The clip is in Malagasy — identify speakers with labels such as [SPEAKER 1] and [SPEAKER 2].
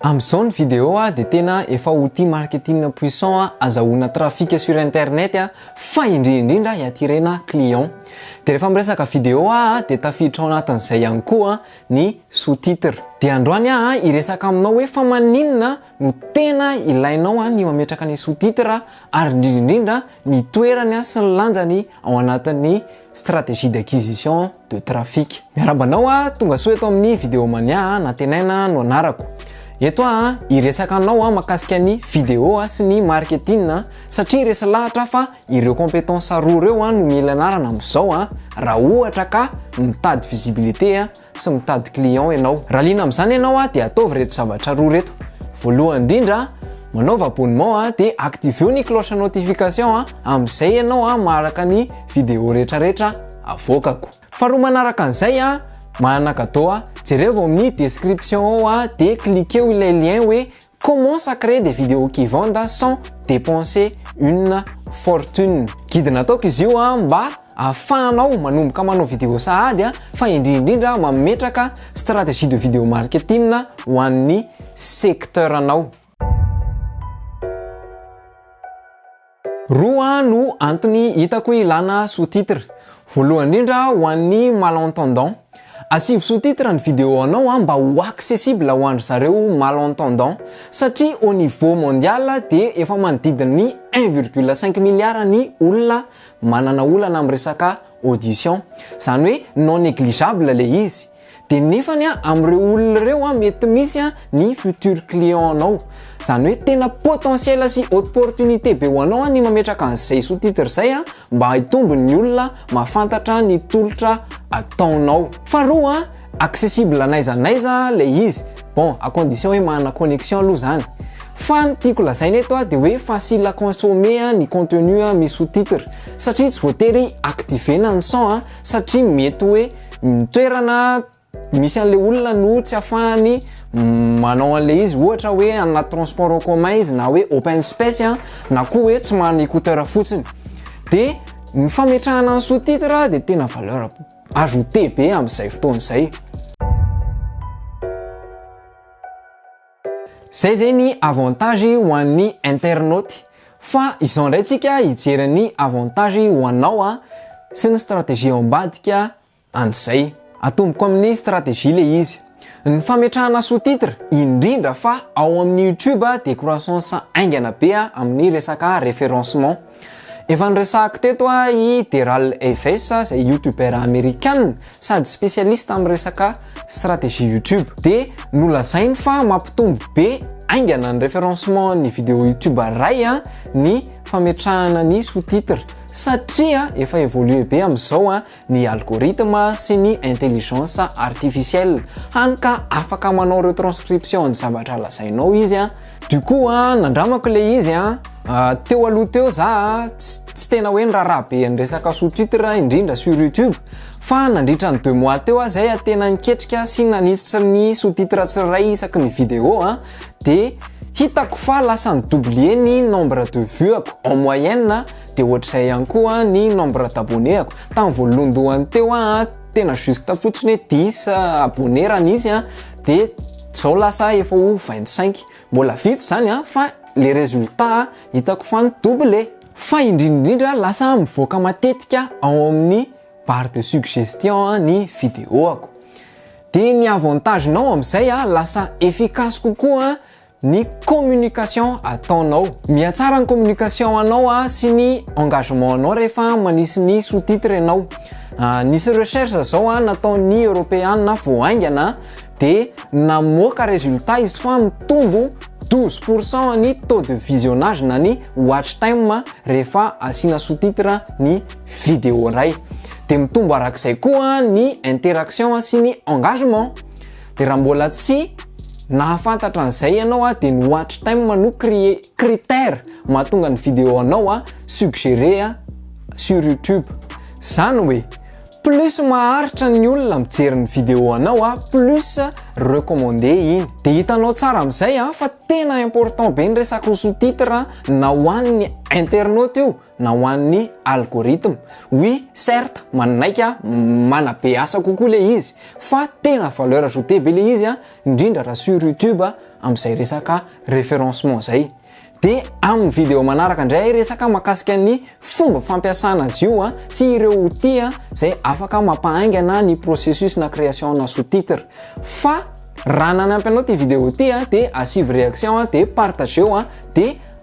[SPEAKER 1] Amzao ny video a de tena efa outil marketing puissant a azahoana trafic sur internet a fa indrindra indrindra hiatirena client. De refa miresaka video a de tafiditra ao anatin'izay ihany koa ny sous-titre. De androany aho a hiresaka aminao hoe fa maninona no tena ilainao a ny mametraka ny sous-titre ary indrindra indrindra ny toerany a sy ny lanjany ao anatin'ny stratégie d'acquisition de trafic. Miarahaba anao a, tonga soa eto amin'ny vidéo mania a, Nantenaina no anarako. Eto aho a, hiresaka anao a makasika ny vidéo a, sy ny marketing a, satria resy lahatra aho fa ireo compétences roa ireo a no mila ianarana amin'izao a, raha ohatra ka mitady visibilité a, Tsy mitady client ianao. Raha liana amin'izany ianao dia ataovy ireto zavatra roa ireto. Voalohany indrindra, manaovy abonnement dia activeo ny cloche notification amin'izay ianao maharaka ny vidéo rehetrarehetra avoakako. Faharoa manaraka an'izay, manana cadeau aho. Jereo ao amin'ny description ao dia cliqueo ilay lien hoe commence à créer des vidéos qui vendent sans dépenser une fortune. Guide nataoko izy io mba Ahafahanao manomboka manao video sahady fa indrindrindra mametraka stratégie de video marketing ho an'ny secteur-nao. Roa no antony hitako ilana sous-titre. Voalohany indrindra ho an'ny malentendants. Asivo sous-titre ny video-nao mba ho accessible ho an-dry zareo malentendants. Satria au niveau mondial dia efa manodidina ny un virgule cinq milliard ny olona manana olana amin'ny resaka audition zany hoe non négligeable le izy de nefany a amin'ireo olona ireo a mety misy a ny futur client nao zany hoe tena potentiel sy opportunité be ho anao ny mametraka an'izay sous titre zay a mba haitombo ny olona mahafantatra ny tolotra ataonao faharoa accessible n'aiza n'aiza le izy bon à condition hoe manana connexion aloha zany fa ny tiako lazaina eto a de hoe facile à consommer a ny contenu a misy sous titre satria tsy voatery activer-na ny son a satria mety hoe ny toerana misy an'le olona no tsy afahany manao an'le izy ohatra hoe anaty transport en commun izy na hoe open space a na koa hoe tsy manana écouteur fotsiny de ny fametrahana ny sous titre de tena valeur Ajouter be amin'izay fotoana izay. Zay zay ny avantage ho an'ny internaute fa izao ndray tsika hijery ny avantage ho anao a sy ny stratégie ao ambadika an'izay. Atomboko amin'ny stratégie le izy. Ny fametrahana sous-titres, indrindra fa ao amin'ny YouTube dia croissance haingana be amin'ny resaka référencement. Efa niresahako teto i Deral Eves izay youtubeur amerikana sady spécialiste amin'ny resaka stratégie YouTube dia nolazainy fa mampitombo be haingana ny référencement ny vidéo YouTube iray ny fametrahana ny sous-titres satria efa évolué be amin'izao ny algorithme sy ny intelligence artificielle, hany ka afaka manao retranscription ny zavatra lazainao izy a, du coup a nandramako le izy a, teo aloha teo za a tsy tena hoe niraharaha be an'ny resaka sous titre indrindra sur youtube fa nandritra ny deux mois teo aho zay a tena niketrika sy nanisitra ny sous titre tsirairay isaky ny vidéo a de hitako fa lasa ni-doubler ny nombre de vue-ako en moyenne de ohatr'izay ihany koa ny nombre d'abonné-ako tamin'ny voalohandohany teo aho tena juste fotsiny hoe dix abonné raha nisy an de zao lasa efa ho vingt cinq mbola vitsy zany an fa le résultat hitako fa mi double fa indrindrindra lasa mivoaka matetika ao amin'ny barre de suggestion ny video-ako Dia ny avantage nao amin'izay a, lasa efficace kokoa ny communication ataonao. Mihatsara ny communication anao sy ny engagement anao rehefa manisy ny sous-titre ianao. Nisy recherche zao nataon'ny Europeana vao haingana dia namoaka résultat izy fa mitombo douze pour cent ny taux de visionnage na ny watch time rehefa asiana sous-titre ny vidéo indray de mitombo arak'izay koa ny interaction sy ny engagement de raha mbola tsy nahafantatra an'izay ianao a de ny watch time no crée critère mahatonga ny vidéo anao a suggéré a sur youtube zany hoe plus maharitra ny olona mijery ny vidéo anao a plus recommandé iny de hitanao tsara am'izay a fa tena important be ny resaka sous-titre na ho an'ny internaute io na ho an'ny algorithme. Oui, certes, manaiky aho, manabe asa kokoa le izy, fa tena valeur ajoutée be le izy an, indrindra raha sur YouTube amin'izay resaka référencement zay. Dia amin'ny vidéo manaraka indray hiresaka mahakasika ny fomba fampiasana azy io an, sy ireo outils an, izay afaka mampahaingana ny processus na création na sous-titre. Fa raha nanampy anao ity vidéo ity an, dia asivo réaction an, dia partageo an, dia